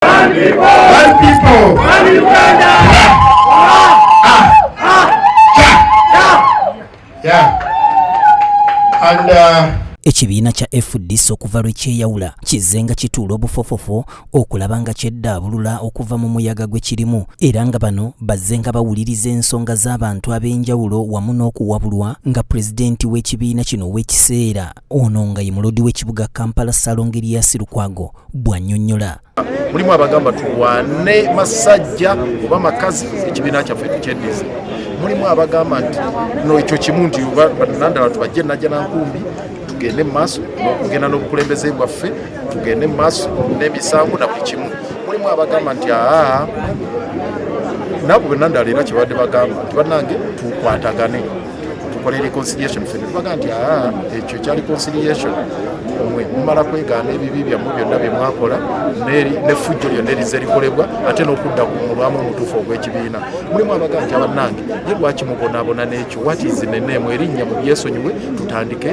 One people. One people. One Uganda. ekibiina kya fdc okuva lwe kyeyawula kizze nga kituula obufofofo okulaba nga kyeddaabulula okuva mu muyaga gwe kirimu era nga bano bazze nga bawuliriza ensonga z'abantu ab'enjawulo wamu n'okuwabulwa nga pulezidenti w'ekibiina kino ow'ekiseera ono nga ye mulodi w'ekibuga kampala salongeriyasi lukwago bw'annyonnyola mulimu abagamba tulwane masajja oba makazi ekibiina kyaffe tukyeddize mulimu abagamba nti no ekyo kimu nti banandala tubajje najja nankumbi tugende mu maaso n'okugenda n'obukulembeze bwaffe tugende mu maaso n'emisango na buli kimu mulimu abagamba nti aa nabo benandala era kyebadde bagamba nti bannange tukwatagane tukola reconciliation ffe netubaga nti aa ah, ekyo ekya reconciliation mwe mumala kwegaana ebibi byammwe byonna bye mwakola nefujjo lyonna erize likolebwa ate n'okudda ku mulwamu omutuufu ogw'ekibiina mulimu abaga nti abannange ye lwaki mubonaabona n'ekyo wati zineneemu erinnya mu byesonyiwe tutandike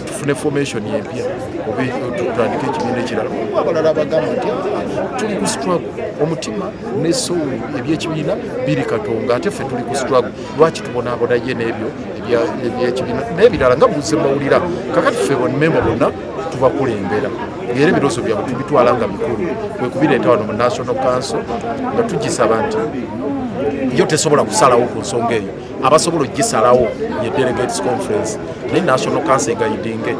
tufune formation empya oba tutandika ekibiina ekirala oba abalala abagamba nti ah, tuli ku struggle omutima ne soul ebyekibiina biri katonga ate ffe tuli ku struggle lwaki tubonaabona ye n'ebyo ebyekibiina n'ebirala nga buze mawulira kakati ffe bonnmemba bonna tubakulembera era ebirozo byabwe tubitwala nga bikulu kwe kubireeta wano mu national council nga tugisaba nti yo tesobola kusalawo ku nsonga eyo abasobola okugisalawo ye delegates conference naye national council egayidinge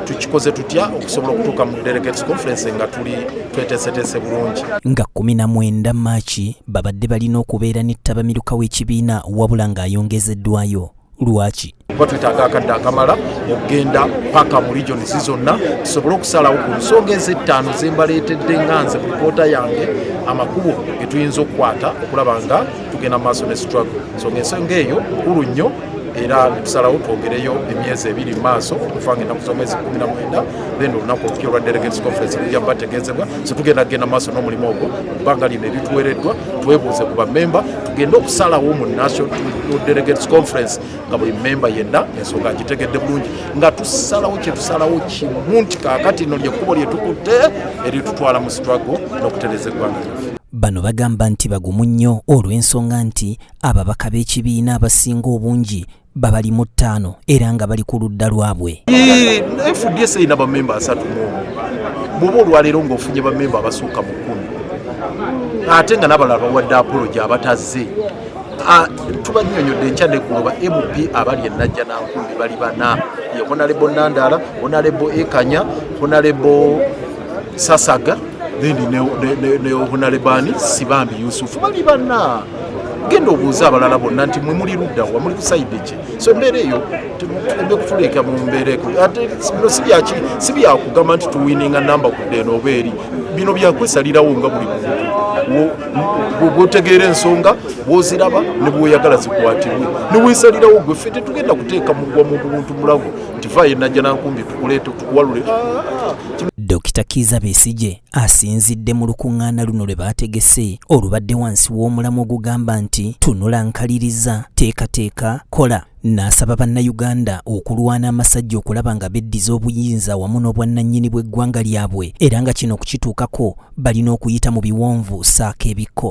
tukikoze tutya okusobola okutuuka mu delegates conference nga tuli tweteeseteese bulungi nga 19 maaki babadde balina okubeera ne ttabamiruka w'ekibiina wabula ng'ayongezeddwayo lwaki kuba twetaaga akadde akamala okugenda paka mu regions zonna tusobole okusalawo ku nsonga ezettaano zembaleetedde nga nze mu lipoota yange amakubo getuyinza okukwata okulaba nga tugenda mu maaso ne struggle so ngaensonga eyo nkulu nnyo era netusalawo twogereyo emyezi ebiri mumaaso okufanga enaku zomwezi kumi na mwenda then olunaku olupya olwa delegates conference lujja kuba tegezebwa so tugenda kugenda maaso n'omulimu ogwo ebbanga lino erituwereddwa twebuuze ku bamemba tugende okusalawo mu national delegates conference nga buli memba yenna ensonga agitegedde bulungi nga tusalawo kyetusalawo kimu nti kaakati no lyekkubo lyetukutte eritutwala mu sitwago n'okutereza eggwanga lyaffe bano bagamba nti bagumu nnyo olw'ensonga nti ababaka b'ekibiina abasinga obungi babali mu ttaano era nga bali ku ludda lwabwe fds erina bamemba asatu muomu bwoba olwaleero ng'ofunye bamemba abasukka mu kkumi ate nga nabalala bawadde apologi abatazze Ah, tubanyonyodde enkya negoloba mp abali enajja nankumbi bali bana ye honalebo nandala honalebo ekanya honalebo sasaga then ne obunalebani sibambi yusufu bali bana genda obuuza abalala bonna nti mwe muli ludda wa muli kusaide ki so embeera eyo ebe kutuleeka mu mbeera eko ate bino sibyaki si byakugamba nti tuwininga namba kudde eno oba eri bino byakwesalirawo nga buli muntu bwotegeera ensonga bwoziraba ne bwoyagala zikwatibwe ne wesalirawo gwe ffe tetugenda kuteeka mugwa mu buntu mulago nti vaayo najja nankumbi tukuleete tukuwalule Dokita Kiiza Besigye asinzidde mu lukuŋŋaana luno lwe baategese olubadde wansi w'omulamwa ogugamba nti tunula nkaliriza teekateeka kola n'asaba bannayuganda okulwana amasajja okulaba nga beddiza obuyinza wamu n'obwannannyini bw'eggwanga lyabwe era nga kino okukituukako balina okuyita mu biwonvu saako ebikko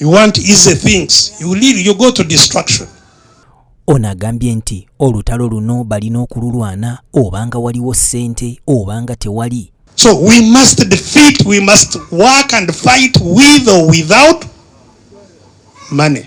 You want easy things. You leave, you go to destruction. Ono agambye nti olutalo luno balina okululwana obanga waliwo ssente obanga tewali. So we must defeat, we must work and fight with or without money.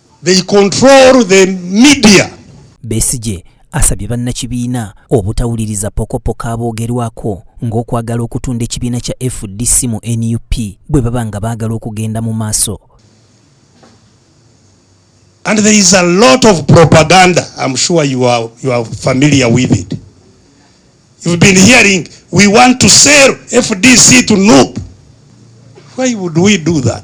They control the media. Besigye asabye bannakibiina obutawuliriza pokopoko aboogerwako ng'okwagala okutunda ekibiina kya fdc mu nup bwe baba nga baagala okugenda mu maaso And there is a lot of propaganda. I'm sure you are, you are familiar with it. You've been hearing, we want to sell FDC to NUP. Why would we do that?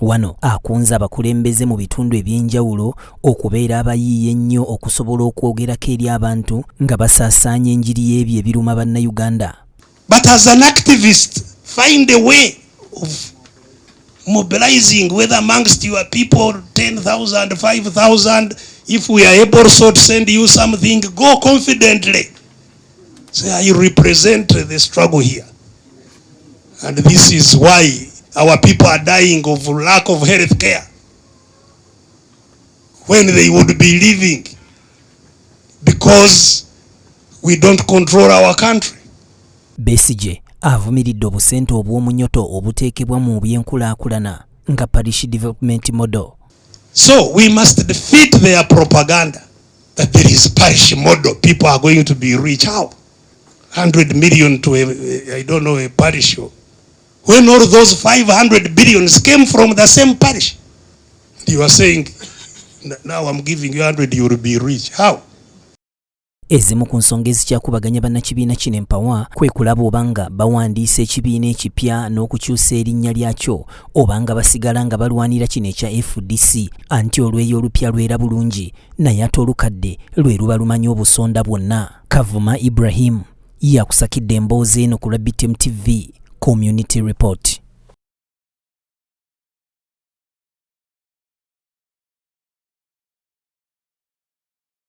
Wano akunze abakulembeze mu bitundu eby'enjawulo okubeera abayiiya ennyo okusobola okwogerako eri abantu nga basaasaanya enjiri y'ebyo ebiruma Bannayuganda. But as an activist, find a way of mobilizing whether amongst your people 10,000, 5,000, if we are able so to send you something, go confidently. So I represent the struggle here. And this is why our people are dying of lack of health care. When they would be living because we don't control our country. Besigye avumiridde obusente obw'omunyoto obuteekebwa mu byenkulaakulana nga parish development model. So we must defeat their propaganda. that there is parish model people are going to be rich how 100 million to a, I don't know a parish when all those 500 billions came from the same parish you are saying now I'm giving you 100 you will be rich how Ezimu ku nsonga ezikyakubaganya bannakibiina kino empawa kwe kulaba obanga bawandiisa ekibiina ekipya n'okukyusa erinnya lyakyo obanga basigala nga balwanira kino ekya FDC anti olweyo olupya lwera bulungi naye ate olukadde lwe luba lumanyi obusonda bwonna kavuma ibrahim yakusakidde emboozi eno ku lwa btm tv community report